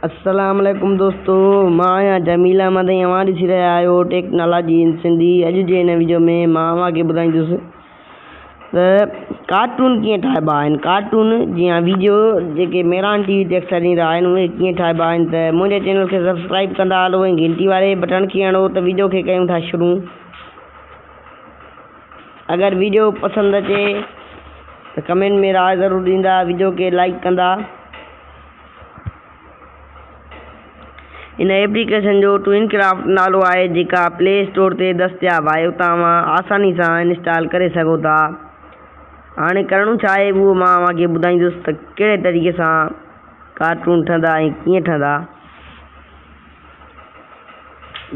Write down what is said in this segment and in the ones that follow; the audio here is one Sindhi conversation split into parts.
السلام عليڪم دوستو مان آهيان جميل احمد ۽ اوهان ڏسي رهيا آهيو ٽيڪنالاجي ان سنڌي اڄ جي هن ويڊيو ۾ مان اوهان کي ٻڌائيندس ته ڪارٽون ڪيئن ٺاهبا آهن ڪارٽون جي ها ويڊيو جيڪي ميران ٽي وي تي اڪثر ڏيندا آهن اهي ڪيئن ٺاهبا آهن ته منهنجي چينل کي سبسڪرائب ڪندا هلو ۽ گهنٽي واري بٽڻ کي هڻو ته ويڊيو کي ڪيون ٿا شروع اگر ويڊيو پسند اچي ته ڪمينٽ ۾ راء ضرور ڏيندا ويڊيو کي لائڪ ڪندا ان ايپليڪيشن جو ٽوئن ڪرافٽ نالو آهي جيڪا پلي اسٽور تي دستياب آهي اتان اوهان آساني سان انسٽال ڪري سگهو ٿا هاڻي ڪرڻو ڇا آهي اهو مان اوهان کي ٻڌائيندس ته ڪهڙي طريقي سان ڪارٽون ٺهندا ۽ ڪيئن ٺهندا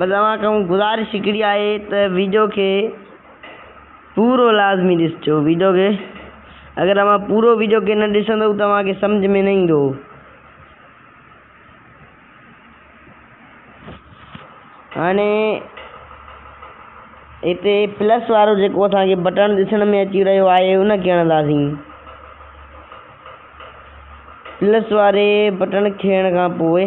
بس اوهان کان گذارش هڪڙي آهي ته ويڊيو کي پورو لازمي ڏسجو ويڊيو کي اگر اوهان پورو ويڊيو کي نه ڏسندو ته اوهان کي سمجھ ۾ نه ايندو. هاڻي هتي پلس وارو جيڪو اسان کي بٽڻ ڏسڻ ۾ اچي رهيو آهي ان کي هڻنداسين. پلس واري بٽڻ کيڻ کان پوء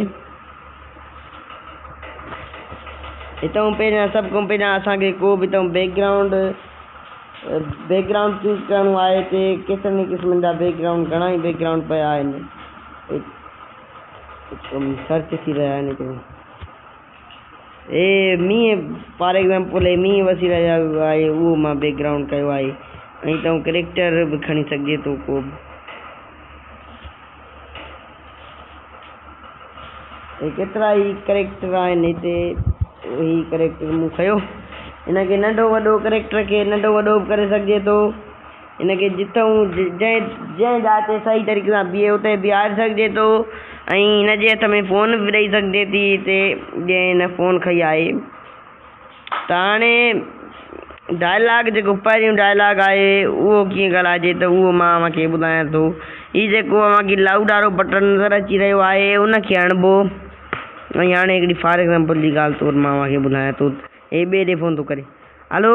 اتان پهريان سڀ کان پهريان اسان کي ڪو به اتان background background choose ڪرڻو آهي هتي ڪيترن ئي قسمن جا بيڪ گرائونڊ گهڻا ئي بيڪ گرائونڊ پيا آهن سرچ ٿي رهيا آهن هي مينهن فار ايگزامپل هي مينهن وسيع ريا جو آهي اهو مان بيڪ گرائونڊ ڪيو آهي ۽ تون ڪريڪٽر به کڻي سگهجي ٿو ڪو به هي ڪيترا ئي ڪريڪٽر آهن هتي هي ڪريڪٽر مون کيو ان کي ننڍو وڏو ڪريڪٽر کي ننڍو وڏو به ڪري سگهجي ٿو ان کي جتئن هو جنهن جاء تي صحيح طريقي سان بيهي اتي بيهاري سگهجي ٿو ۽ هن جي هٿ ۾ فون به ڏئي سگهجي ٿي هتي جنهن هن فون کئي آهي ته هاڻي ڊائلاگ جيڪو پهريون ڊائلاگ آهي اهو ڪيئن ڳالهائجي ته اهو مان اوهان کي ٻڌايان ٿو هي جيڪو اوهان کي لائوڊ وارو بٽڻ نظر اچي رهيو آهي ان کي هڻبو ۽ هاڻي هڪڙي فار ايگزامپل جي ڳالهه طور مان اوهان کي ٻڌايان ٿو هي ٻئي ڏي فون ٿو ڪري هلو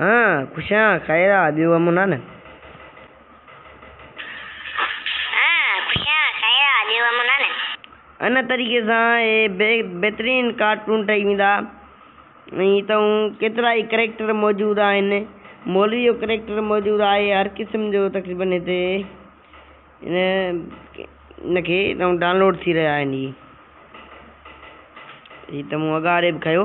ها خوش آهيان خير آ ٻيو امن آ نه. ها خوش آهيان خير آ ٻيو امن آ نه. ان طريقي سان اهي بهترين ڪارٽون ٺهي ويندا ۽ اتئون ڪيترا ئي ڪريڪٽر موجود آهن مولوي جو ڪريڪٽر موجود آهي هر قسم جو تقريبن هتي ان کي اتئون ڊانلوڊ ٿي رهيا آهن هي هي ته مون اڳاڙي به کنيو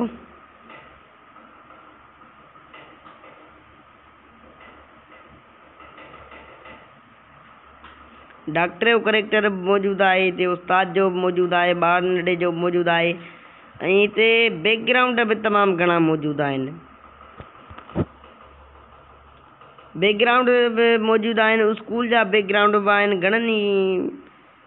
ڊاڪٽر جو ڪريڪٽر به موجود آهي هتي استاد جو به موجود آهي ٻار ننڍڙي جو به موجود آهي ۽ هتي بيڪ گرائونڊ به تمام گهڻا موجود آهن بيڪ گرائونڊ به موجود آهن اسڪول جا بيڪ گرائونڊ به آهن گهڻن ئي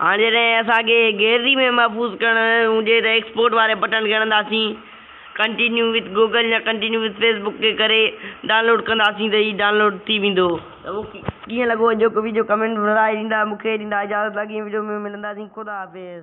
هاڻ جڏهن اسان کي گيلري ۾ محفوظ ڪرڻ هجي ته ايڪسپورٽ واري بٽڻ ڳڻنداسين ڪنٽينيو وٿ گوگل يا ڪنٽينيو وٿ فيس بڪ کي ڪري ڊائونلوڊ ڪنداسين ته هي ڊائونلوڊ ٿي ويندو. ته مون کي ڪيئن لڳو اڄوڪو ويڊيو ڪمينٽ ۾ رائي ڏيندا مون کي ڏيندا اجازت اڳئين ويڊيو ۾ ملنداسين خدا حافظ.